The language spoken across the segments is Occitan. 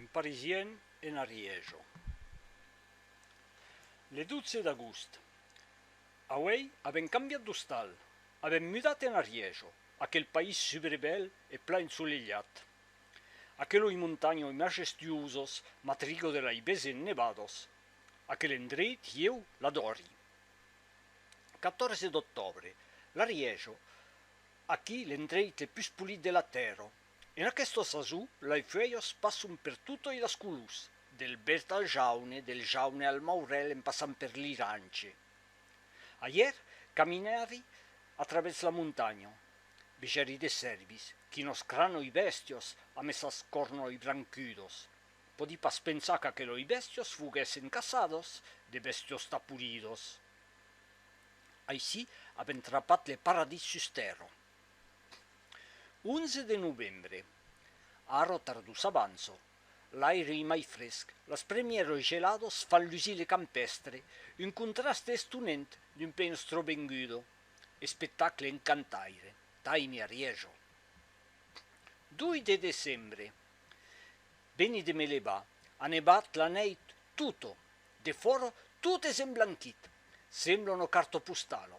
Un Parisien en Ariège. Le 12 d'agost. Auèi avèm cambiat d'ostal, avèm mudat en Ariège, aquel país subrebèl e plan ensolelhat. Aqueloi montanhoi majestuosos m'atrigo de lai besen nevados. Aquel endreit ieu l'adori. 14 d'octòbre. L'Ariège. Aquí l'endreit le pus polit de la tèrra. En aquesta sason, lei fuèlhas passon per totei las colors, del verd al jaune, del jaune al maurel en passant per l'irance. Ahièr caminèri a travèrs la montanha. Vegèri de cèrvis, quinòs cranoi bèstias amb essas cornoi brancudas. Pòdi pas pensar qu'aqueloi bèstias foguèssen caçadas, de bèstias taporidas. Aicí avèm trapat le paradís sus tèrra. 11 de novembre. Ara tardor s'avança, l'aire ei mai fresc, las premieras geladas fan lusir le campèstre, un contraste estonent d'un pè enstrovenguda. Espectacle encantaire, Taimi Arieja. 2 de decembre. Veni de me levar, a nevat la nèit tota, De fòra, tot es emblanquit, sembla una carta postala.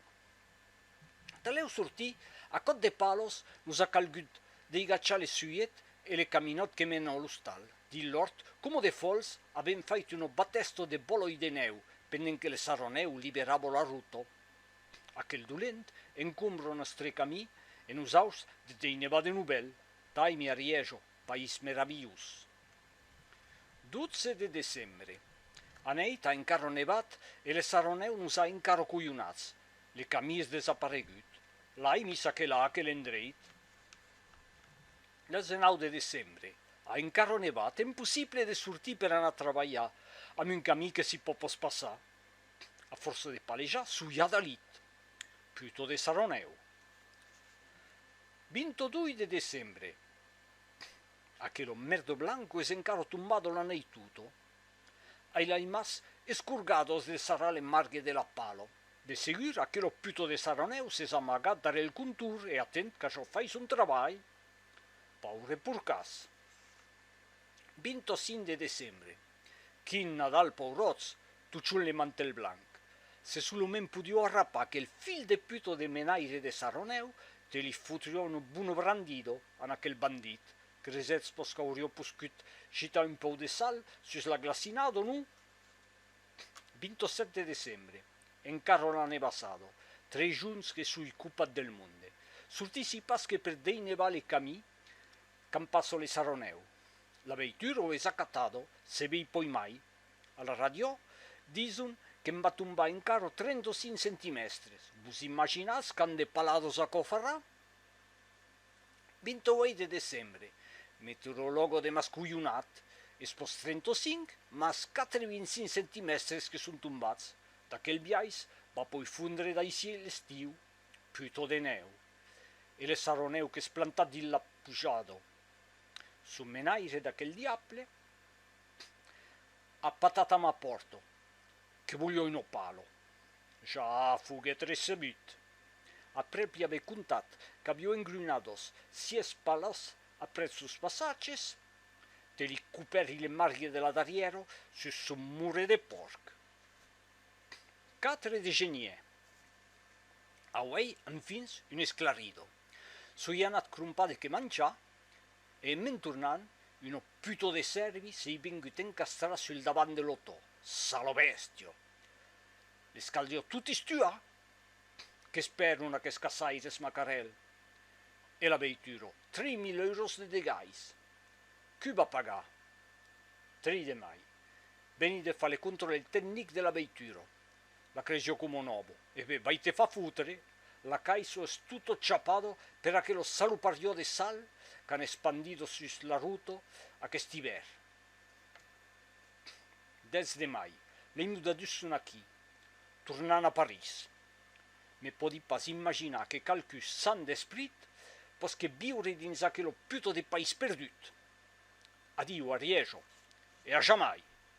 Talèu sortir, a còp de palos, nos a calgut deigachar le suiet e le caminòt que mena a l'ostal. Dins l'òrt, coma de fòls, avèm fait una batèsta de bolòi de nèu, pendent que le sarranèu liberava la rota. Aquel dolent encombra nòstre camí e nosaus de t'ei nevar de novèl. Taimi a Rièja, país meravilhós. 12 de decembre. Anèit a encarro nevat e le saronèu nos a encarro coyonats. Le camí es desaparegut. L'ai mis aquela a aquel endreit. 19 de decembre. A encarro nevat, empossible de sortir per anar trabalhar amb un camí que si po pos passar. A força de palejar, soia dalit. Pluto de saronèu. 22 de decembre. Aquelo merdo blanco es encaro tombado la nèit tuto. Ai l'ai mas escorgado es de sarrar l'emmargue de la palo. De segur, aquelo puto de Saranèu s'es amagat darrèr el contour e atent qu'açò fai son trabalh. Paure porcàs. 25 de decembre. Quin Nadal pauròts, Tuchon le mantel blanc. Se solament podió arrapar aquel fil de puto de menaire de Sarronèu, te li fotrió un bon brandido an aquel bandit, cresetz pos qu'aurió poscut gitar un pòu de sal sus la glacinada o non? 27 de decembre, encara la nebassada, tres junhs que soi copat del monde. Sortissi pas que per deinevar le camí qu'an pas sòle Sarronèu. La veitura o es acatada, se vei poimai, A la radiò, dison que'm va tombar en caro 35 centimèstres, vos imaginatz qu'an de palados aquò farrà? 28 de decembre, meteorològo demascohonat, es pòs 35, mas 4 e 25 centimèstres que son tombats, d'aquel biais, va poi fondre d'aicí l'estiu, puto de nèu. E le saronèu qu'es plantat dins la pujada. Son menaire d'aquel diable. A patata m'a pòrto, que volio un opalo. Ja foguèt recebut. Aprèp li avè contat qu'avió engrunados sies palas aprèp sos passatges, te li copèri le margue de la darrièra sus son mure de pòrc. Quatre de geniè. Auei enfin un esclarido. Soi anat crompar de que manjar E me'n tornant, una puto de sèrvi s'ei vengut encastrar sul davant de l'auto, salo bèstia! Les cal dir totis tua! Qu'es per non aqueths caçaires, Macarèl! E la veitura, trei mil euros de degais! Cu va pagar? Trei de mai, veni de far le contròle tecnic de la veitura, La crejo como nobo. E be, vai te fa foutre, la caiso es tutto chapado per aquelo salupariò de sal qu'an espandido sus l'aruto aquest ivèr. Dètz de mai, lei mudadus son aquí, tornan a París. Me pòdi pas imaginar que qualqui san d'esprit posque viure dins aquelo puto de país perdut. Adiu, Ariejo, e a jamai!